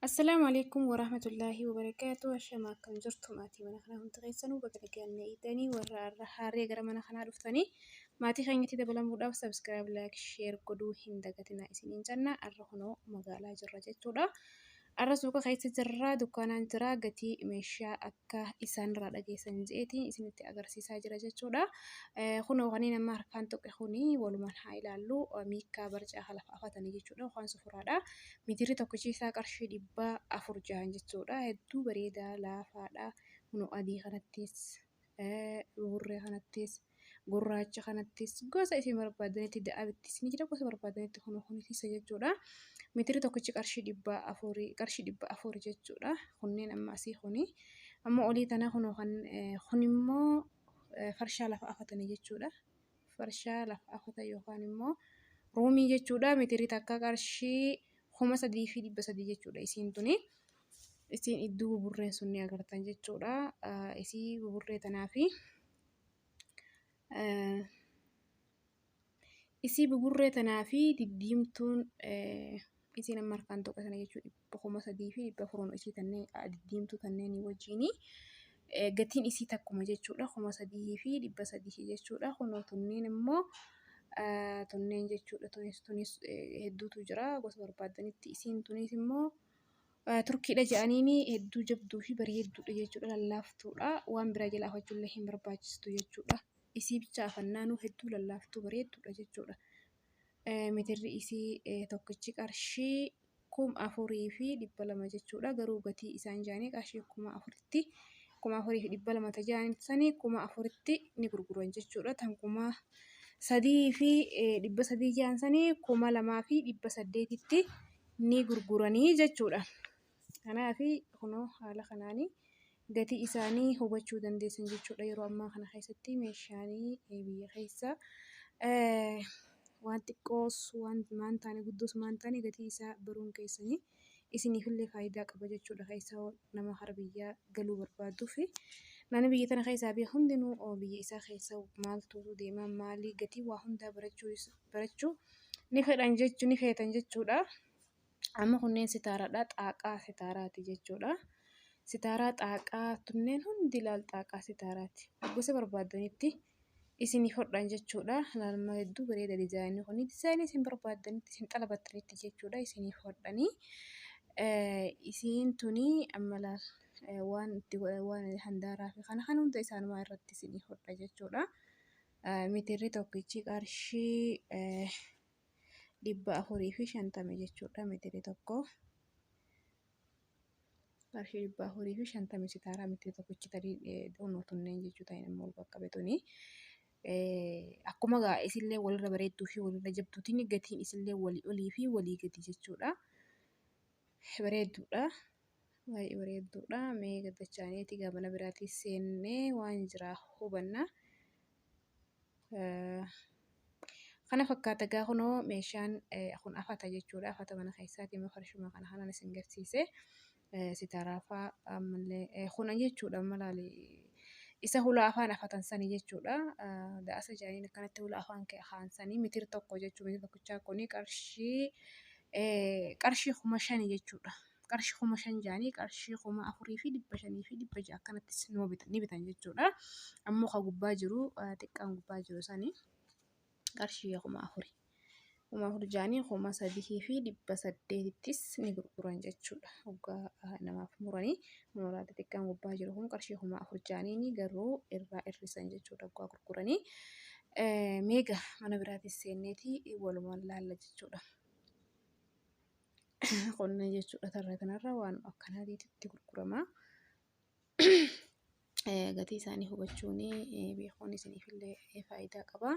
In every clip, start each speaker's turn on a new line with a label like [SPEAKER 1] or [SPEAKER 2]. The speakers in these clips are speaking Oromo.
[SPEAKER 1] Assalaamu alaikum warahmatullaahi wabarakaatu ashama akkam jirtu maatii mana kanaa hundi keessanuu baga nagaan na eegdanii warra har'a haaree gara mana kanaa dhuftanii maatii keenyatti dabalamuudhaaf sabskiraayib laayik sheer godhuu hin dagatinaa isiniin jenna har'a kunoo magaalaa jirra jechuudha har'a suuqa keessa jirra dukkaanaan jira gatii meeshaa akka isaan irraa dhageessan je'eeti isinitti agarsiisaa jira jechuudha. Kunoo kaniin amma harkaan tuqe kuni walumaan haa ilaallu miikkaa barcaa kalaaf afatanii jechuudha. Waan sufuraadha. Mitirri tokkichi isaa qarshii dhibba afur jahan jechuudha. Hedduu bareedaa laafaadha. Kunoo adii kanattis buburree kanattis gurraacha kanattis gosa isin barbaadanitti da'abitti isin jira gosa barbaadanitti kun kun keessa jechuudha mitiri tokkichi qarshii dhibba afurii qarshii dhibba afur jechuudha kunneen amma asii kuni amma olii tana kun kan kun immoo farshaa lafa afatanii jechuudha farshaa lafa afata yookaan immoo ruumii jechuudha mitiri takka qarshii kuma sadii fi dhibba sadii jechuudha isiin tuni isiin idduu buburreen sun ni agartan jechuudha isii buburree tanaa fi Isii buburree tanaa fi diddiimtuun isiin amma harkaan tuqe sana jechuun dhibba kuma sadii fi dhibba afuroon isii tanneen diddiimtuu tanneenii wajjin gatiin isii takkuma jechuudha kuma sadii fi dhibba sadii jechuudha kunoo tunneen immoo tunneen jechuudha tunis tunis hedduutu jira gosa barbaadanitti isiin tunis immoo. Turkiidha jedhaniin hedduu jabduu fi bareedduudha jechuudha lallaaftuudha waan biraa jalaa afachuullee hin barbaachistu jechuudha isii bicha afannaanuu hedduu lallaaftuu bareedduudha jechuudha mitirri isii tokkichi qarshii kum afurii fi dhibba lama jechuudha garuu gatii isaan jaanii qarshii kuma afuritti kuma afurii fi dhibba lama tajaan sanii kuma afuritti ni gurguran jechuudha tan kuma sadii fi dhibba sadii jaan sanii kuma lamaa fi dhibba saddeetitti ni gurguranii jechuudha. Kanaaf kunoo haala kanaan gatii isaanii hubachuu dandeessan jechuudha. Yeroo ammaa kana keessatti meeshaan biyya keessaa waan xiqqoos waan taane guddoos waan taane gatii isaa baruun keessan isiniifillee faayidaa qaba jechuudha. Keessaa nama gara biyyaa galuu barbaaduu fi namni biyya tana keessaa bahe hundinuu biyya isaa keessa maaltu deema? Maali? Gatii waa hundaa barachuu isaa. barachuu ni fedhan jechuu ni feetan jechuudha. Amma kunneen sitaaraadha. Xaaqaa sitaaraati jechuudha. Sitaaraa xaaqaa tunneen hundi laal xaaqaa sitaaraati. Gosa barbaaddanitti isiniif hodhan jechuudha. Laalma hedduu bareeda dizaayinni kun dizaayinii isin barbaaddanitti isin xalabattanitti jechuudha isiniif hodhanii. Isiin tuni amma laal waan itti waan handaaraa fi kana kan hunda isaanumaa irratti isiniif hodha jechuudha. Mitirri tokkichi qarshii dhibba afurii fi shantama jechuudha. Mitirri tokko qarshii dhibba afurii fi shantama sitaaraa mitirri tokkichi tarii doonoo tunneen jechuu ta'in immoo bakka betuni. Akkuma gaa isillee walirra bareedduu fi walirra jabduutiin gatiin isillee walii olii fi walii gadi jechuudha. Bareedduudha. Baay'ee bareedduudha. Mee gaddachaaniiti gaa mana biraatii seennee waan jiraa hubanna. Kana fakkaata gaa kunoo meeshaan kun afata jechuudha. Afata mana keessaati immoo farshuma kana kanan isin garsiise. Sitaraafaa ammallee kuna jechuudha amma laali. Isa hula afaan afatan sanii jechuudha. Daasa jaaniin akkanatti hula afaan kaan sanii mitir tokko jechuudha. Mitir tokkichaa kuni qarshii qarshii kuma shanii jechuudha. qarshii kuma shan jaanii qarshii kuma afurii fi dhibba shanii fi dhibba ja'a akkanattis numa bitan ni bitan jechuudha. Ammoo ka gubbaa jiru eh, xiqqaan gubbaa jiru sani qarshii kuma afuri. Kuma afur jaanii kuma sadihii fi dhibba saddeetittis ni gurguran jechuudha. Hoggaa eh, namaaf muranii muraa xixiqqaan gubbaa jiru kun qarshii kuma afur jaanii ni garuu irraa hir'isan jechuudha hoggaa gurguranii. Eh, Meega mana biraatis seenneeti walumaan laalla jechuudha. qonna jechuudha tarra kanarra waan akkanaatiitu itti gurgurama. Gatii isaanii hubachuun beekuun isiniifillee faayidaa qaba.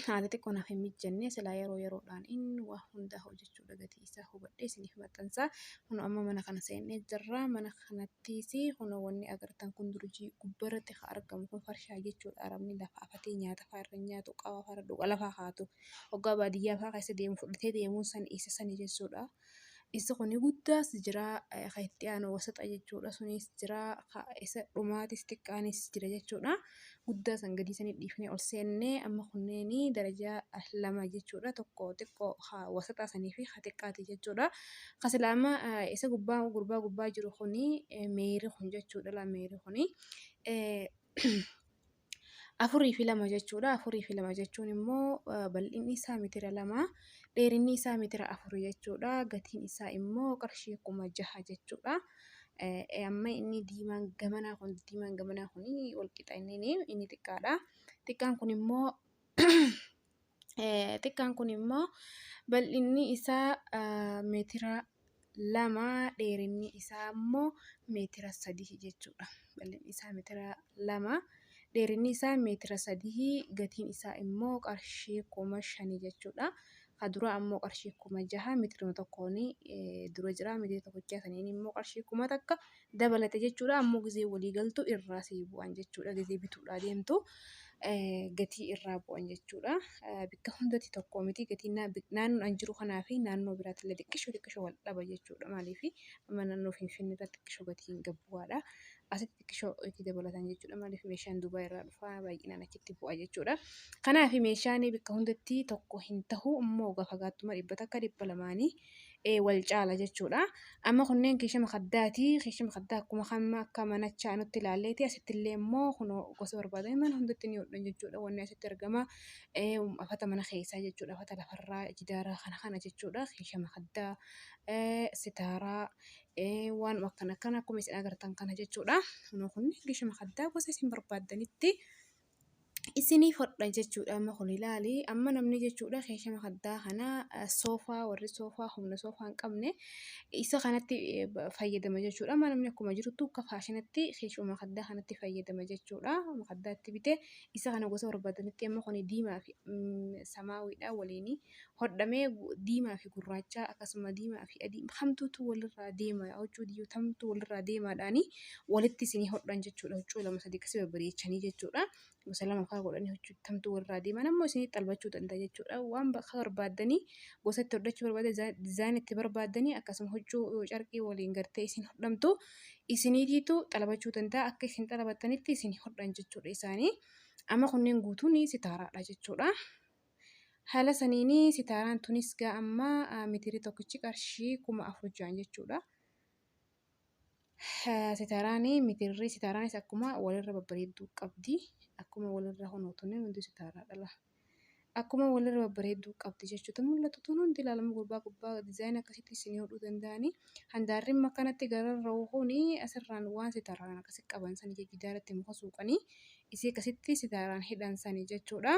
[SPEAKER 1] Haala xiqqoo naaf hin mijjanne silaa yeroo yeroodhaan inni waa hundaa hojjechuudha gatii isaa hubadhee isiniif maxxansa. Kun amma mana kana seennee jirra. Mana kanattis kun wanni agartan kun durjii gubbarratti kan argamu kun farshaa jechuudha. Arabni lafa afatee nyaata fa'aa irra nyaatu qawaa fa'aa irra dhuga lafaa kaatu. Hoggaa baadiyyaa fa'aa keessa deemu fudhatee deemuun san isa sani jechuudha. Isa kuni guddaas jira ka itti aanu wasaxa jechuudha sunis jira ka isa dhumaatis xiqqaanis jira jechuudha. Guddaa san gadii sanii dhiifnee ol seennee amma kunneeni darajaa lama jechuudha tokko xiqqoo ka wasaxaa sanii fi ka xiqqaati jechuudha. Ka silaa amma isa gubbaa gurbaa gubbaa jiru kuni meeyri kun jechuudha laa meeyri kuni. afurii fi lama jechuudha. Afurii fi lama jechuun immoo bal'inni isaa mitira lama, dheerinni isaa mitira afur jechuudha. Gatiin isaa immoo qarshii kuma jaha jechuudha. Amma inni diimaan gamanaa kun diimaan gamanaa kun walqixa inni inni xiqqaadha. Xiqqaan kun immoo xiqqaan kun immoo bal'inni isaa meetira lama dheerinni isaa immoo meetira sadii jechuudha. Bal'inni isaa meetira lama dheerinni isaa meetira sadii gatiin isaa immoo qarshii kuma shani jechuudha. Kadura ammoo qarshii kuma jaha meetiruma tokkoon dura jira meetira tokkochaa saniin immoo qarshii kuma takka dabalate jechuudha. Ammoo gizee walii galtu irraa sii bu'an jechuudha. Gizee bituudhaa deemtu gatii irraa bu'an jechuudha. Bikka hundatti tokko miti gatii naannoo an jiru kanaa fi naannoo biraatti illee xiqqisho xiqqisho wal dhaba jechuudha. Maaliif amma naannoo Finfinnee irratti xiqqisho gatiin gad bu'aadha. Asitti xiqqisho itti dabalatan jechuudha. Maaliif meeshaan Duubaa irraa dhufa baay'inaan achitti bu'a jechuudha. Kanaaf meeshaan bikka hundatti tokko hin tahu immoo gafagaattummaa dhibba takka dhibba lamaanii wal caala jechuudha. Amma kunneen keesha makaddaati. Keesha makaddaa akkuma kamma akka manachaa nutti ilaalleeti. Asitti illee immoo kunoo gosa barbaadame mana hundatti ni hodhan jechuudha. Wanni asitti argama afata mana keessaa jechuudha. Afata lafarraa jidaara kana kana jechuudha. Keesha makaddaa sitaaraa waan akkana akkana akkuma isin agartan kana jechuudha. Kunoo kun keesha makaddaa gosa isin barbaaddanitti. isiniif hodha jechuudha amma kun ilaali amma namni jechuudha keeshama haddaa kana soofaa warri soofaa humna soofaa hin qabne isa kanatti fayyadama jechuudha amma namni akkuma jirutti akka faashinatti keeshuma haddaa kanatti fayyadama jechuudha haddaatti bite isa kana gosa barbaadanitti amma kun diimaa fi samaawiidha waliinii hodhamee diimaa fi gurraachaa akkasuma diimaa fi adii hamtuutu walirraa deema yaa huccuu diyyoo tamtu walirraa deemaadhaanii walitti isinii hodhan jechuudha huccuu lama sadii akkasii babbareechanii jechuudha gosa lama faa godhanii huccuu tamtu walirraa deeman ammoo isinii xalbachuu danda'a jechuudha waan bakka barbaaddanii gosa itti hodhachuu barbaaddan dizaan itti barbaaddanii akkasuma huccuu yoo carqii waliin gartee isin hodhamtu isiniitiitu xalbachuu danda'a akka isin xalbattanitti isinii hodhan jechuudha isaanii amma kunneen guutuun sitaaraadha jechuudha. Haala saniin sitaaraan tunis gaa amma meetirri tokkichi qarshii kuma afur ja'an jechuudha. Sitaaraan meetirri sitaaraanis akkuma walirra babbareedduu qabdi. Akkuma walirra honoo tunneen hundi sitaaraa dhala. Akkuma walirra babbareedduu qabdi jechuutu mul'atu tun hundi ilaalama gurbaa gubbaa dizaayinii akkasitti isin hodhuu danda'anii. Handaarri immoo akkanatti gararra hohuun asirraan waan sitaaraan akkasi qaban sani jijjiidaarratti muka suuqanii isii akkasitti sitaaraan hidhan sani jechuudha.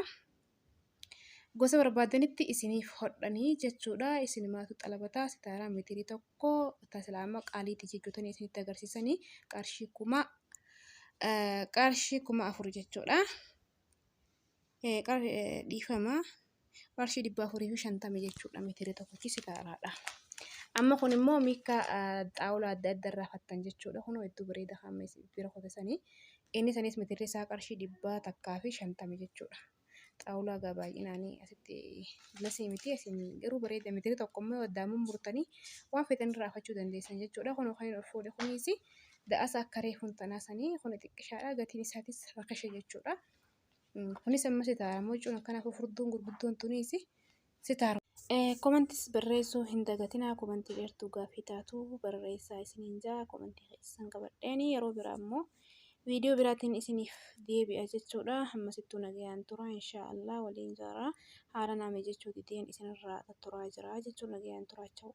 [SPEAKER 1] Gosa barbaadanitti isiniif hodhanii jechuudha. Isinumaatu xalabataa sitaaraa meetirii tokko tasilaa amma qaaliitti jijjiirtanii isinitti agarsiisanii qarshii kuma qarshii kuma afur jechuudha. Dhiifama qarshii dhibba afurii fi shantama jechuudha meetirii tokkochi sitaaraadha. Amma kun immoo miika xaawulaa adda addaa irraa fattan jechuudha. Kunoo hedduu bareeda hamma bira kotasanii Inni sanis metirri isaa qarshii dhibbaa takkaa fi shantama jechuudha. Xaawulaa gaa baay'inaan asitti lasii miti asiin garuu bareeda metirri tokko immoo addaan murtanii waan feetan irraa afachuu dandeessan jechuudha. Kun kan ol fuudhe kunis da'asa akka reefuun tanaa sanii kun xiqqishaadha gatiin isaatis rakasha jechuudha. Kunis ammas taa'amoo cuun akkanaaf furduun gurguddoon tunis Sitaar. Comments barreessuu hin dagatinaa commentii dheertuu gaaffii taatu barreessaa isiniin jaa commentii keessan qabadheeni yeroo biraa immoo viidiyoo biraatiin isiniif deebi'a jechuudha hammasittuu nagayaan tura inshaa Allah waliin jaaraa haala naame jechuu dideen isinirraa turaa jira jechuun nagayaan turaacha'u.